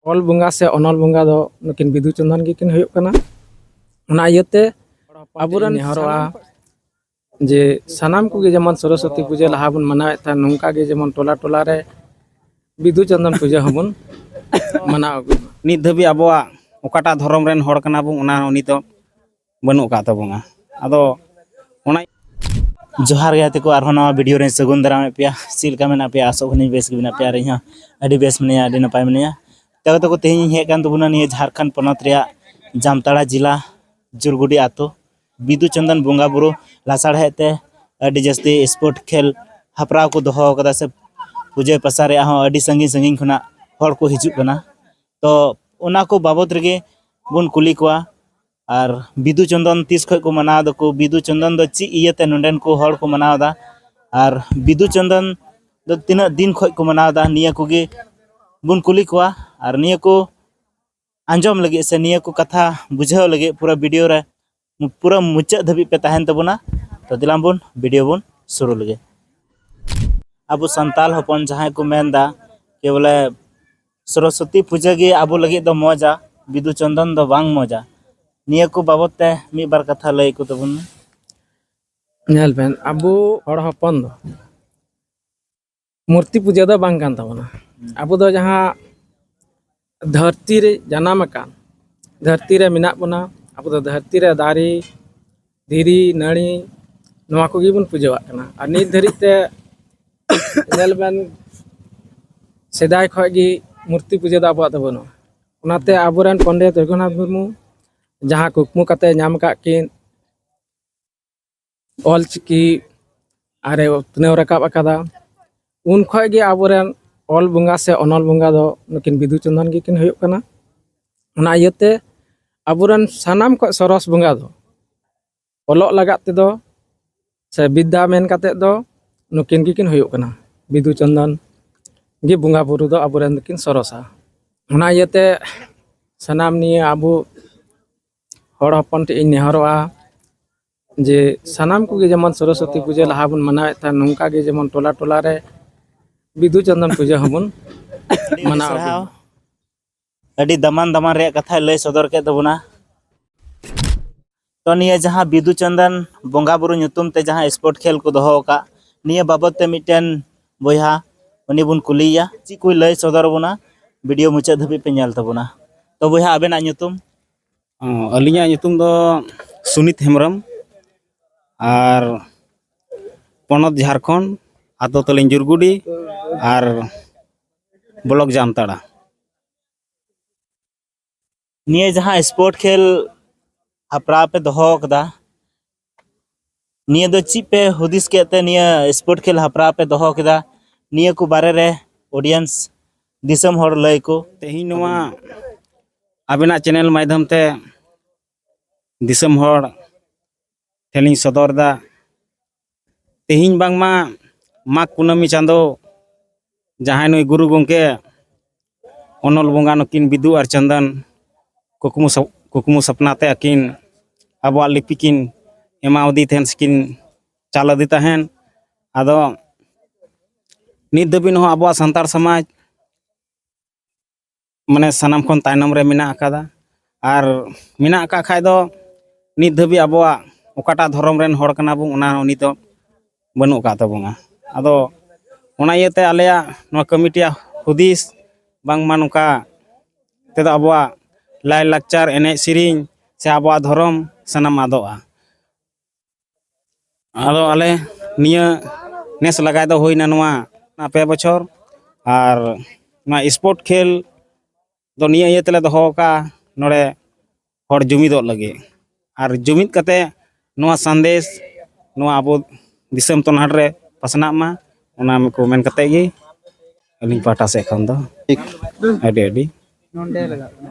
ᱚᱞ ᱵᱚᱸᱜᱟ ᱥᱮ ᱚᱱᱚᱞ ᱵᱚᱸᱜᱟ ᱫᱚ ᱱᱩᱠᱤᱱ ᱵᱤᱫᱩ ᱪᱚᱱᱫᱚᱱ ᱜᱮᱠᱤᱱ ᱦᱩᱭᱩᱜ ᱠᱟᱱᱟ ᱚᱱᱟ ᱤᱭᱟᱹᱛᱮ ᱟᱵᱚᱨᱮᱱ ᱱᱮᱦᱚᱨᱚᱜᱼᱟ ᱡᱮ ᱥᱟᱱᱟᱢ ᱠᱚᱜᱮ ᱡᱮᱢᱚᱱ ᱥᱚᱨᱚᱥᱚᱛᱤ ᱯᱩᱡᱟᱹ ᱞᱟᱦᱟ ᱵᱚᱱ ᱢᱟᱱᱟᱣᱮᱫ ᱛᱟᱦᱮᱸ ᱱᱚᱝᱠᱟ ᱜᱮ ᱡᱮᱢᱚᱱ ᱴᱚᱞᱟ ᱴᱚᱞᱟ ᱨᱮ ᱵᱤᱫᱩ ᱪᱚᱱᱫᱚᱱ ᱯᱩᱡᱟᱹ ᱦᱚᱸᱵᱚᱱ ᱢᱟᱱᱟᱣ ᱟᱹᱜᱩᱭ ᱢᱟ ᱱᱤᱛ ᱫᱷᱟᱹᱵᱤᱡ ᱟᱵᱚᱣᱟᱜ ᱚᱠᱟᱴᱟᱜ ᱫᱷᱚᱨᱚᱢ ᱨᱮᱱ ᱦᱚᱲ ᱠᱟᱱᱟ ᱵᱚᱱ ᱚᱱᱟ ᱩᱱᱤ ᱫᱚ ᱵᱟᱹᱱᱩᱜ ᱟᱠᱟᱫ ᱛᱟᱵᱚᱱᱟ ᱟᱫᱚ ᱚᱱᱟ ᱡᱚᱦᱟᱨ ᱜᱮ ᱛᱮᱠᱚ ᱟᱨᱦᱚᱸ ᱱᱟᱣᱟ ᱵᱷᱤᱰᱤᱭᱳ ᱨᱮᱧ ᱥᱟᱹᱜᱩᱱ ᱫᱟᱨᱟᱢᱮᱫ ᱯᱮᱭᱟ ᱪᱮᱫ ᱞᱮᱠᱟ ᱢᱮᱱᱟᱜ ᱯᱮᱭᱟ ᱟᱥᱚᱜ ᱠᱟᱹᱱᱟᱹᱧ ᱵᱮᱥ ᱜᱮ ᱢᱮᱱᱟᱜ ᱯᱮᱭᱟ ᱟᱨ ᱤᱧ ᱦᱚᱸ ᱟᱹᱰᱤ ᱵᱮᱥ ᱢᱤᱱᱟᱹᱧᱟ ᱟᱹᱰᱤ ᱱᱟᱯᱟᱭ ᱢᱤᱱᱟᱹᱧᱟ ᱛᱚ ᱛᱟᱠᱚ ᱛᱮᱦᱮᱧ ᱤᱧ ᱦᱮᱡ ᱠᱟᱱ ᱛᱟᱵᱚᱱᱟ ᱱᱤᱭᱟᱹ ᱡᱷᱟᱲᱠᱷᱚᱸᱰ ᱯᱚᱱᱚᱛ ᱨᱮᱭᱟᱜ ᱡᱟᱢᱛᱟᱲᱟ ᱡᱮᱞᱟ ᱡᱩᱨᱜᱩᱰᱤ ᱟᱛᱳ ᱵᱤᱫᱩ ᱪᱚᱱᱫᱚᱱ ᱵᱚᱸᱜᱟ ᱵᱩᱨᱩ ᱞᱟᱥᱟᱲᱦᱮᱫ ᱛᱮ ᱟᱹᱰᱤ ᱡᱟᱹᱥᱛᱤ ᱥᱯᱳᱨᱴ ᱠᱷᱮᱞ ᱦᱟᱯᱲᱟᱣ ᱠᱚ ᱫᱚᱦᱚ ᱟᱠᱟᱫᱟ ᱥᱮ ᱯᱩᱡᱟᱹ ᱯᱟᱥᱟ ᱨᱮᱭᱟᱜ ᱦᱚᱸ ᱟᱹᱰᱤ ᱥᱟᱺᱜᱤᱧ ᱥᱟᱺᱜᱤᱧ ᱠᱷᱚᱱᱟᱜ ᱦᱚᱲ ᱠᱚ ᱦᱤᱡᱩᱜ ᱠᱟᱱᱟ ᱛᱚ ᱚᱱᱟ ᱠᱚ ᱵᱟᱵᱚᱫ ᱨᱮᱜᱮ ᱵᱚᱱ ᱠᱩᱞᱤ ᱠᱚᱣᱟ ᱟᱨ ᱵᱤᱫᱩ ᱪᱚᱱᱫᱚᱱ ᱛᱤᱥ ᱠᱷᱚᱱ ᱠᱚ ᱢᱟᱱᱟᱣ ᱫᱟᱠᱚ ᱵᱤᱫᱩ ᱪᱚᱱᱫᱚᱱ ᱫᱚ ᱪᱮᱫ ᱤᱭᱟᱹᱛᱮ ᱱᱚᱰᱮᱱ ᱠᱚ ᱦᱚᱲ ᱠᱚ ᱢᱟᱱᱟᱣ ᱮᱫᱟ ᱟᱨ ᱵᱤᱫᱩ ᱪᱚᱱᱫᱚᱱ ᱫᱚ ᱛᱤᱱᱟᱹᱜ ᱫᱤᱱ ᱠᱷᱚᱱ ᱠᱚ ᱢᱟᱱᱟᱣ ᱮᱫᱟ ᱱᱤᱭᱟᱹ ᱠᱚᱜᱮ ᱵᱚᱱ ᱠᱩᱞᱤ ᱠᱚᱣᱟ ᱟᱨ ᱱᱤᱭᱟᱹ ᱠᱚ ᱟᱸᱡᱚᱢ ᱞᱟᱹᱜᱤᱫ ᱥᱮ ᱱᱤᱭᱟᱹ ᱠᱚ ᱠᱟᱛᱷᱟ ᱵᱩᱡᱷᱟᱹᱣ ᱞᱟᱹᱜᱤᱫ ᱯᱩᱨᱟᱹ ᱵᱷᱤᱰᱤᱭᱳ ᱨᱮ ᱯᱩᱨᱟᱹ ᱢᱩᱪᱟᱹᱫ ᱫᱷᱟᱹᱵᱤᱡ ᱯᱮ ᱛᱟᱦᱮᱱ ᱛᱟᱵᱚᱱᱟ ᱛᱚ ᱫᱤᱞᱟᱢ ᱵᱚᱱ ᱵᱷᱤᱰᱤᱭᱳ ᱵᱚᱱ ᱥᱩᱨᱩ ᱞᱮᱜᱮ ᱟᱵᱚ ᱥᱟᱱᱛᱟᱞ ᱦᱚᱯᱚᱱ ᱡᱟᱦᱟᱸᱭ ᱠᱚ ᱢᱮᱱᱫᱟ ᱠᱮ ᱵᱚᱞᱮ ᱥᱚᱨᱚᱥᱚᱛᱤ ᱯᱩᱡᱟᱹ ᱜᱮ ᱟᱵᱚ ᱞᱟᱹᱜᱤᱫ ᱫᱚ ᱢᱚᱡᱟ ᱵᱤᱫᱩ ᱪᱚᱱᱫᱚᱱ ᱫᱚ ᱵᱟᱝ ᱢᱚᱡᱟ ᱱᱤᱭᱟᱹ ᱠᱚ ᱵᱟᱵᱚᱛ ᱛᱮ ᱢᱤᱫ ᱵᱟᱨ ᱠᱟᱛᱷᱟ ᱞᱟᱹᱭ ᱠᱚ ᱛᱟᱵᱚᱱ ᱢᱮ ᱧᱮᱞ ᱵᱮᱱ ᱟᱵᱚ ᱦᱚᱲ ᱦᱚᱯᱚᱱ ᱫᱚ ᱢᱩᱨᱛᱤ ᱯᱩᱡᱟᱹ ᱫᱚ ᱵᱟᱝ ᱠᱟᱱ ᱛᱟᱵᱚᱱᱟ ᱟᱵᱚ ᱫᱚ ᱡᱟᱦᱟᱸ ᱫᱷᱟᱹᱨᱛᱤ ᱨᱮ ᱡᱟᱱᱟᱢ ᱟᱠᱟᱱ ᱫᱷᱟᱹᱨᱛᱤ ᱨᱮ ᱢᱮᱱᱟᱜ ᱵᱚᱱᱟ ᱟᱵᱚ ᱫᱚ ᱫᱷᱟᱹᱨᱛᱤ ᱨᱮ ᱫᱟᱨᱮ ᱫᱷᱤᱨᱤ ᱱᱟᱹᱲᱤ ᱱᱚᱣᱟ ᱠᱚᱜᱮ ᱵᱚᱱ ᱯᱩᱡᱟᱹᱣᱟᱜ ᱠᱟᱱᱟ ᱟᱨ ᱱᱤᱛ ᱫᱷᱟᱹᱨᱤᱡ ᱛᱮ ᱧᱮᱞ ᱵᱮᱱ ᱥᱮᱫᱟᱭ ᱠᱷᱚᱱ ᱜᱮ ᱢᱩᱨᱛᱤ ᱯᱩᱡᱟᱹ ᱫᱚ ᱟᱵᱚᱣᱟᱜ ᱫᱚ ᱵᱟᱹᱱᱩᱜᱼᱟ ᱚᱱᱟᱛᱮ ᱟᱵᱚᱨᱮᱱ ᱯᱚᱱᱰᱤᱛ ᱨᱚᱜᱷᱩᱱᱟᱛᱷ ᱢᱩᱨᱢᱩ ᱡᱟᱦᱟᱸ ᱠᱩᱠᱢᱩ ᱠᱟᱛᱮ ᱧᱟᱢ ᱟᱠᱟᱫ ᱠᱤᱱ ᱚᱞᱪᱤᱠᱤ ᱟᱨᱮ ᱩᱛᱱᱟᱹᱣ ᱨᱟᱠᱟᱵ ᱟᱠᱟᱫᱟ ᱩᱱ ᱠᱷᱚᱡ ᱜᱮ ᱟᱵᱚᱨᱮᱱ ᱚᱞ ᱵᱚᱸᱜᱟ ᱥᱮ ᱚᱱᱚᱞ ᱵᱚᱸᱜᱟ ᱫᱚ ᱱᱩᱠᱤᱱ ᱵᱤᱫᱩ ᱪᱚᱱᱫᱚᱱ ᱜᱮᱠᱤᱱ ᱦᱩᱭᱩᱜ ᱠᱟᱱᱟ ᱚᱱᱟ ᱤᱭᱟᱹᱛᱮ ᱟᱵᱚᱨᱮᱱ ᱥᱟᱱᱟᱢ ᱠᱷᱚᱡ ᱥᱚᱨᱚᱥ ᱵᱚᱸᱜᱟ ᱫᱚ ᱚᱞᱚᱜ ᱞᱟᱜᱟᱫ ᱛᱮᱫᱚ ᱥᱮ ᱵᱤᱫᱽᱫᱟ ᱢᱮᱱ ᱠᱟᱛᱮᱫ ᱫᱚ ᱱᱩᱠᱤᱱ ᱜᱮᱠᱤᱱ ᱦᱩᱭᱩᱜ ᱠᱟᱱᱟ ᱵᱤᱫᱩ ᱪᱚᱱᱫᱚᱱ ᱜᱮ ᱵᱚᱸᱜᱟ ᱵᱩᱨᱩ ᱫᱚ ᱟᱵᱚᱨᱮᱱ ᱫᱚᱠᱤᱱ ᱥᱚᱨᱚᱥᱟ ᱚᱱᱟ ᱤᱭᱟᱹᱛᱮ ᱥᱟᱱᱟᱢ ᱱᱤᱭᱟᱹ ᱟᱵᱚ ᱦᱚᱲ ᱦᱚᱯᱚᱱ ᱴᱷᱮᱡ ᱤᱧ ᱱᱮᱦᱚᱨᱚᱜᱼᱟ ᱡᱮ ᱥᱟᱱᱟᱢ ᱠᱚᱜᱮ ᱡᱮᱢᱚᱱ ᱥᱚᱨᱚᱥᱚᱛᱤ ᱯᱩᱡᱟᱹ ᱞᱟᱦᱟ ᱵᱚᱱ ᱢᱟᱱᱟᱣᱮᱫ ᱛᱟᱦᱮᱸ ᱱᱚᱝᱠᱟ ᱜᱮ ᱡᱮᱢᱚᱱ ᱴᱚᱞᱟ ᱴᱚᱞᱟ ᱨᱮ ᱵᱤᱫᱩ ᱪᱟᱸᱫᱟᱱ ᱯᱩᱡᱟᱹ ᱦᱚᱸᱵᱚᱱ ᱟᱹᱰᱤ ᱟᱹᱰᱤ ᱢᱟᱱᱟᱣ ᱥᱟᱨᱦᱟᱣ ᱟᱹᱰᱤ ᱫᱟᱢᱟᱱ ᱫᱟᱢᱟᱱ ᱨᱮᱭᱟᱜ ᱠᱟᱛᱷᱟᱭ ᱞᱟᱹᱭ ᱥᱚᱫᱚᱨ ᱠᱮᱫ ᱛᱟᱵᱚᱱᱟ ᱛᱚ ᱱᱤᱭᱟᱹ ᱡᱟᱦᱟᱸ ᱵᱤᱫᱩ ᱪᱟᱸᱫᱟᱱ ᱵᱚᱸᱜᱟ ᱵᱩᱨᱩ ᱧᱩᱛᱩᱢ ᱛᱮ ᱡᱟᱦᱟᱸ ᱥᱯᱳᱨᱴ ᱠᱷᱮᱞ ᱠᱚ ᱫᱚᱦᱚ ᱟᱠᱟᱫ ᱱᱤᱭᱟᱹ ᱵᱟᱵᱚᱛ ᱛᱮ ᱢᱤᱫᱴᱮᱱ ᱵᱚᱭᱦᱟ ᱩᱱᱤ ᱵᱚᱱ ᱠᱩᱞᱤᱭᱮᱭᱟ ᱪᱮᱫ ᱠᱚᱭ ᱞᱟᱹᱭ ᱥᱚᱫᱚᱨ ᱟᱵᱚᱱᱟ ᱵᱷᱤᱰᱤᱭᱳ ᱢᱩᱪᱟᱹᱫ ᱫᱷᱟᱹᱵᱤᱡ ᱯᱮ ᱧᱮᱞ ᱛᱟᱵᱚᱱᱟ ᱛᱚ ᱵᱚᱭᱦᱟ ᱟᱵᱮᱱᱟᱜ ᱧᱩᱛᱩᱢ ᱟᱹᱞᱤᱧᱟᱜ ᱧᱩᱛᱩᱢ ᱫᱚ ᱥᱩᱱᱤᱛ ᱦᱮᱢᱵᱨᱚᱢ ᱟᱨ ᱯᱚᱱᱚᱛ ᱡᱷᱟᱲᱠᱷᱚᱸᱰ ᱟᱛᱳ ᱛᱟᱹᱞᱤᱧ ᱡᱩᱨᱜᱩᱰᱤ ᱟᱨ ᱵᱞᱚᱠ ᱡᱟᱢᱛᱟᱲᱟ ᱱᱤᱭᱟᱹ ᱡᱟᱦᱟᱸ ᱥᱯᱳᱨᱴ ᱠᱷᱮᱞ ᱦᱮᱯᱨᱟᱣ ᱯᱮ ᱫᱚᱦᱚ ᱟᱠᱟᱫᱟ ᱱᱤᱭᱟᱹ ᱫᱚ ᱪᱮᱫ ᱯᱮ ᱦᱩᱫᱤᱥ ᱠᱮᱫ ᱛᱮ ᱱᱤᱭᱟᱹ ᱥᱯᱳᱨᱴ ᱠᱷᱮᱞ ᱦᱟᱯᱨᱟᱣ ᱯᱮ ᱫᱚᱦᱚ ᱠᱮᱫᱟ ᱱᱤᱭᱟᱹ ᱠᱚ ᱵᱟᱨᱮ ᱨᱮ ᱚᱰᱤᱭᱮᱱᱥ ᱫᱤᱥᱚᱢ ᱦᱚᱲ ᱞᱟᱹᱭ ᱠᱚ ᱛᱮᱦᱮᱧ ᱱᱚᱣᱟ ᱟᱵᱮᱱᱟᱜ ᱪᱮᱱᱮᱞ ᱢᱟᱫᱽᱫᱷᱚᱢ ᱛᱮ ᱫᱤᱥᱚᱢ ᱦᱚᱲ ᱴᱷᱮᱱᱤᱧ ᱥᱚᱫᱚᱨ ᱮᱫᱟ ᱛᱮᱦᱮᱧ ᱵᱟᱝᱢᱟ ᱢᱟᱜᱽ ᱠᱩᱱᱟᱹᱢᱤ ᱪᱟᱸᱫᱚ ᱡᱟᱦᱟᱸᱭ ᱱᱩᱭ ᱜᱩᱨᱩ ᱜᱚᱢᱠᱮ ᱚᱱᱚᱞ ᱵᱚᱸᱜᱟ ᱱᱩᱠᱤᱱ ᱵᱤᱫᱩ ᱟᱨ ᱪᱚᱱᱫᱚᱱ ᱠᱩᱠᱢᱩ ᱠᱩᱠᱢᱩ ᱥᱚᱯᱱᱟ ᱛᱮ ᱟᱹᱠᱤᱱ ᱟᱵᱚᱣᱟᱜ ᱞᱤᱯᱤ ᱠᱤᱱ ᱮᱢᱟᱣᱟᱫᱮ ᱛᱟᱦᱮᱱ ᱥᱮᱠᱤᱱ ᱪᱟᱞ ᱟᱫᱮ ᱛᱟᱦᱮᱱ ᱟᱫᱚ ᱱᱤᱛ ᱫᱷᱟᱹᱵᱤᱡ ᱦᱚᱸ ᱟᱵᱚᱣᱟᱜ ᱥᱟᱱᱛᱟᱲ ᱥᱚᱢᱟᱡᱽ ᱢᱟᱱᱮ ᱥᱟᱱᱟᱢ ᱠᱷᱚᱱ ᱛᱟᱭᱱᱚᱢ ᱨᱮ ᱢᱮᱱᱟᱜ ᱟᱠᱟᱫᱟ ᱟᱨ ᱢᱮᱱᱟᱜ ᱟᱠᱟᱫ ᱠᱷᱟᱡ ᱫᱚ ᱱᱤᱛ ᱫᱷᱟᱹᱵᱤᱡ ᱟᱵᱚᱣᱟᱜ ᱚᱠᱟᱴᱟᱜ ᱫᱷᱚᱨᱚᱢ ᱨᱮᱱ ᱦᱚᱲ ᱠᱟᱱᱟ ᱵᱚᱱ ᱚᱱᱟ ᱩᱱᱤ ᱫᱚ ᱵᱟᱹᱱᱩᱜ ᱟᱠᱟᱫ ᱛᱟᱵᱚᱱᱟ ᱟᱫᱚ ᱚᱱᱟ ᱤᱭᱟᱹᱛᱮ ᱟᱞᱮᱭᱟᱜ ᱱᱚᱣᱟ ᱠᱚᱢᱤᱴᱤᱭᱟᱜ ᱦᱩᱫᱤᱥ ᱵᱟᱝᱢᱟ ᱱᱚᱝᱠᱟ ᱛᱮᱫᱚ ᱟᱵᱚᱣᱟᱜ ᱞᱟᱭᱼᱞᱟᱠᱪᱟᱨ ᱮᱱᱮᱡ ᱥᱮᱨᱮᱧ ᱥᱮ ᱟᱵᱚᱣᱟᱜ ᱫᱷᱚᱨᱚᱢ ᱥᱟᱱᱟᱢ ᱟᱫᱚᱜᱼᱟ ᱟᱫᱚ ᱟᱞᱮ ᱱᱤᱭᱟᱹ ᱱᱮᱥ ᱞᱟᱜᱟᱭ ᱫᱚ ᱦᱩᱭᱱᱟ ᱱᱚᱣᱟ ᱯᱮ ᱵᱚᱪᱷᱚᱨ ᱟᱨ ᱱᱚᱣᱟ ᱥᱯᱳᱨᱴ ᱠᱷᱮᱞ ᱫᱚ ᱱᱤᱭᱟᱹ ᱤᱭᱟᱹ ᱛᱮᱞᱮ ᱫᱚᱦᱚ ᱟᱠᱟᱫᱼᱟ ᱱᱚᱰᱮ ᱦᱚᱲ ᱡᱩᱢᱤᱫᱚᱜ ᱞᱟᱹᱜᱤᱫ ᱟᱨ ᱡᱩᱢᱤᱫ ᱠᱟᱛᱮᱫ ᱱᱚᱣᱟ ᱥᱟᱸᱫᱮᱥ ᱱᱚᱣᱟ ᱟᱵᱚ ᱫᱤᱥᱚᱢ ᱛᱚᱱᱟᱰ ᱨᱮ ᱯᱟᱥᱱᱟᱜ ᱢᱟ ᱚᱱᱟ ᱠᱚ ᱢᱮᱱ ᱠᱟᱛᱮᱫ ᱜᱮ ᱟᱹᱞᱤᱧ ᱯᱟᱦᱴᱟ ᱥᱮᱫ ᱠᱷᱚᱱ ᱫᱚ ᱟᱹᱰᱤ ᱟᱹᱰᱤ